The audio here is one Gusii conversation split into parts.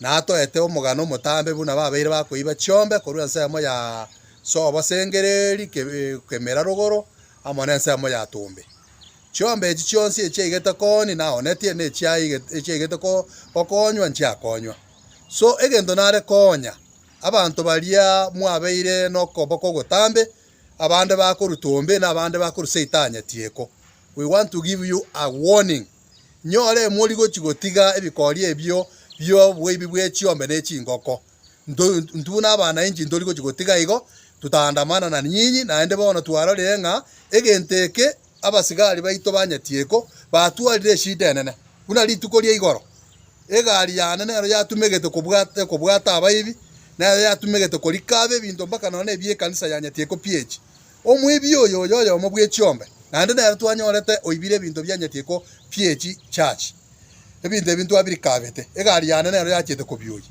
na atoete omogano omotambe buna babeire bakoiba chiombe korwa ensemo ya sobo sengereri kemera rogoro amo nensemo ya tombe. Chiombe echi chionsi echiaigete kooni naoonetie, na echiaigete gokonywa nchiakonywa. So egento nare koonya abanto baria mwabeire nokoboko ogotambe, abande bakoru tombe, na abande bakoru seitanya tieko. We want to give you a warning. Nyore emori gochi gotiga ebikori ebio bioboibi bwe chiombe ne chingoko. Ntu, ntu nabana inchi ntori gochi gotiga igo, tutaandamana na nyinyi, naende bono twarorire ng'a egento eke abasigari baito banyetieko, batwarire eshida enene. Buna rituko ria igoro, egari yane nero yatumegete kobwata, kobwata abaibi, nero yatumegete korika abe ebinto mpaka nonya nebi ekanisa yanyetieko pi echi. Omwebi oyo oyoyomo bw'echiombe, naende nere twanyorete oibire ebinto bi'enyetiiko bi'echi chachi. Ebinto ebi ntwabirikabete, egari yane nero yachiete kobioyia.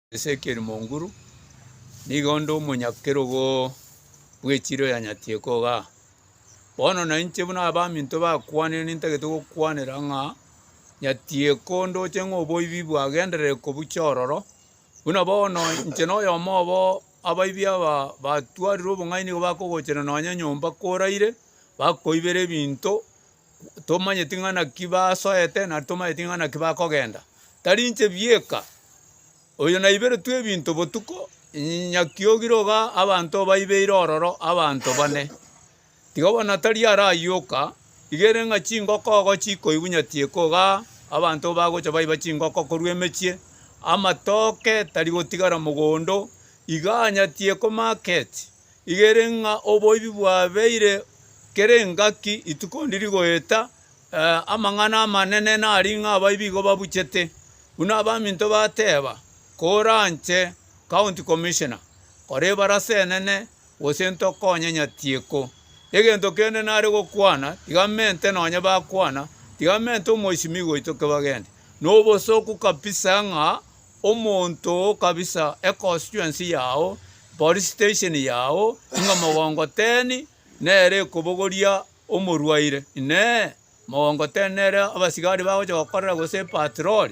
Ezekieli Monguru, nigo onde omonyakerogo bw'echiro ya Nyatieko iga. Bono na inche buna abaminto bakwanire nintagete gokwanera ng'a Nyatieko ndoche ng'a oboibi bwagenderere kobucha ororo, buna bono inche na oyomo obo abaibi aba batwarire obong'aini nigo bakogochera nonye nyomba koraire, bakoibera ebinto, Tomanyeti ng'a naki basoete, na tomanyeti ng'a naki bakogenda. Tari inche bieka oyo naiberetwe ebinto botuko, nyakia ogire iga abanto baibeire ororo abanto bane. Tiga bono tari arayoka, iga ere ng'a chingoko igo chikoibunyatieka igaa, abanto bagocha baiba chingoko korwa emechie, amatoke tari gotigara mogondo, iga anyatieko market. igere ng'a oboibi bwabeire kera engaki rituko ndiri goeta, amang'ana amanene nari ng'a abaibi igo babuchete, buna abaminto bateba, Koranche county commissioner, kora ebarasa enene, gose ntokonye nyatieko. Egento kende nare gokwana, tigamente nonye bakwana, tigamente omoisimigwa oito kebagende. Nobosooku kabisa ng'a. Omonto kabisa econstituency yao, police station yao, inga mogongo ten nere ekobogoria omorwaire, inee, mogongo ten nere abasigari bagocha gokorera gose epatrol?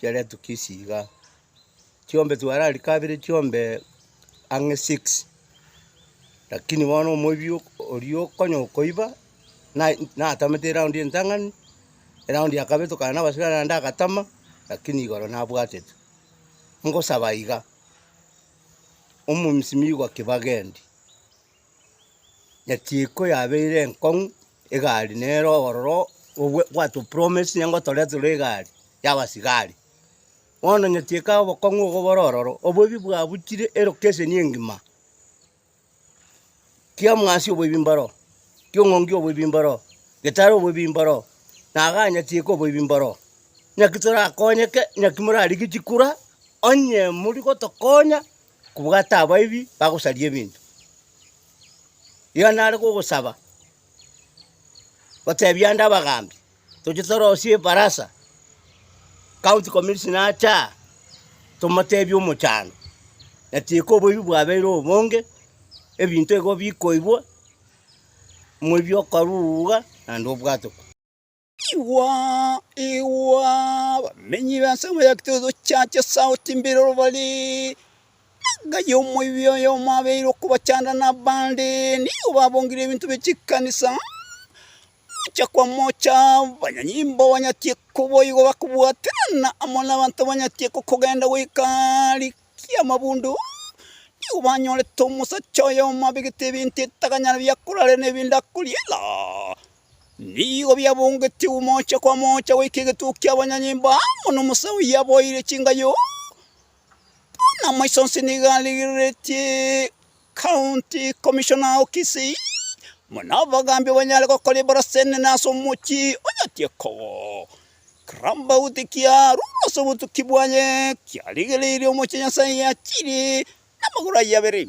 chiaretwa kisi igaa, chiombe twararikabire chiombe ang'e six, rakini bono omoibi ok oria okonya okoiba, naye natamete eraundi entang'ani, eraundi ya kabere tokana na abasibare naende agatama, rakini igoro nabwatete. Ngosaba iga, omomisimi igwa kibagendi. Naki iko yabeire enkong'u egari nere obororo obwe gwatu promise nigo toreterwe egari yabasigari. Bono naki eka obokong'u obo bore ororo, oboibi bwabuchire elokeseni engima. Kia mwasi oboibi mboro, kia ong'ondi oboibi mboro, getari oboibi mboro, na iga naki eka oboibi mboro. Naki torakonyeke, naki morarigie chikura, onye mori gotokonya. Kobwata abaibi bagosaria ebinto. Iga nare gogosaba, gotebia ande abagaambi, toche torosie ebarasa, county commissioner ache aa, tomotebie omochando, natiga oboibi bwabeire obonge, ebinto igo bikoibwa, moibi okorwa iga naende obwate. Igwa, igwa, abamenyi b'ensemo ya Kitoto Church esauti mbire orobari, Enka y'omoibi oyomo abeire okobachanda nabande, nigo babongire ebinto bie chikanisa, mocha kwa mocha, abanyanyimbo banyatie koboigo bakobwaterana amo nabanto banyatie gokogenda goika rikia amabundu, nigo banyorete omosacha oyomo abegete ebinto etaganyara biakorarera na ebinto akoriera. Nigo biabongetigwe omocha kwa mocha goika egetuko ki'abanyanyimbo amo nomosa oyio aboeire chingayo, buna amaiso onsi nigo arigereretie County Commissioner o Kisii, buna abagambi banyare gokora ebarasa enene ase omochie onyatie kowo. Ker'ambaguti kiarurwa ase obotuki bwaye, kiarigereirie omochie Nyasae yachirie namagoro ayio abere.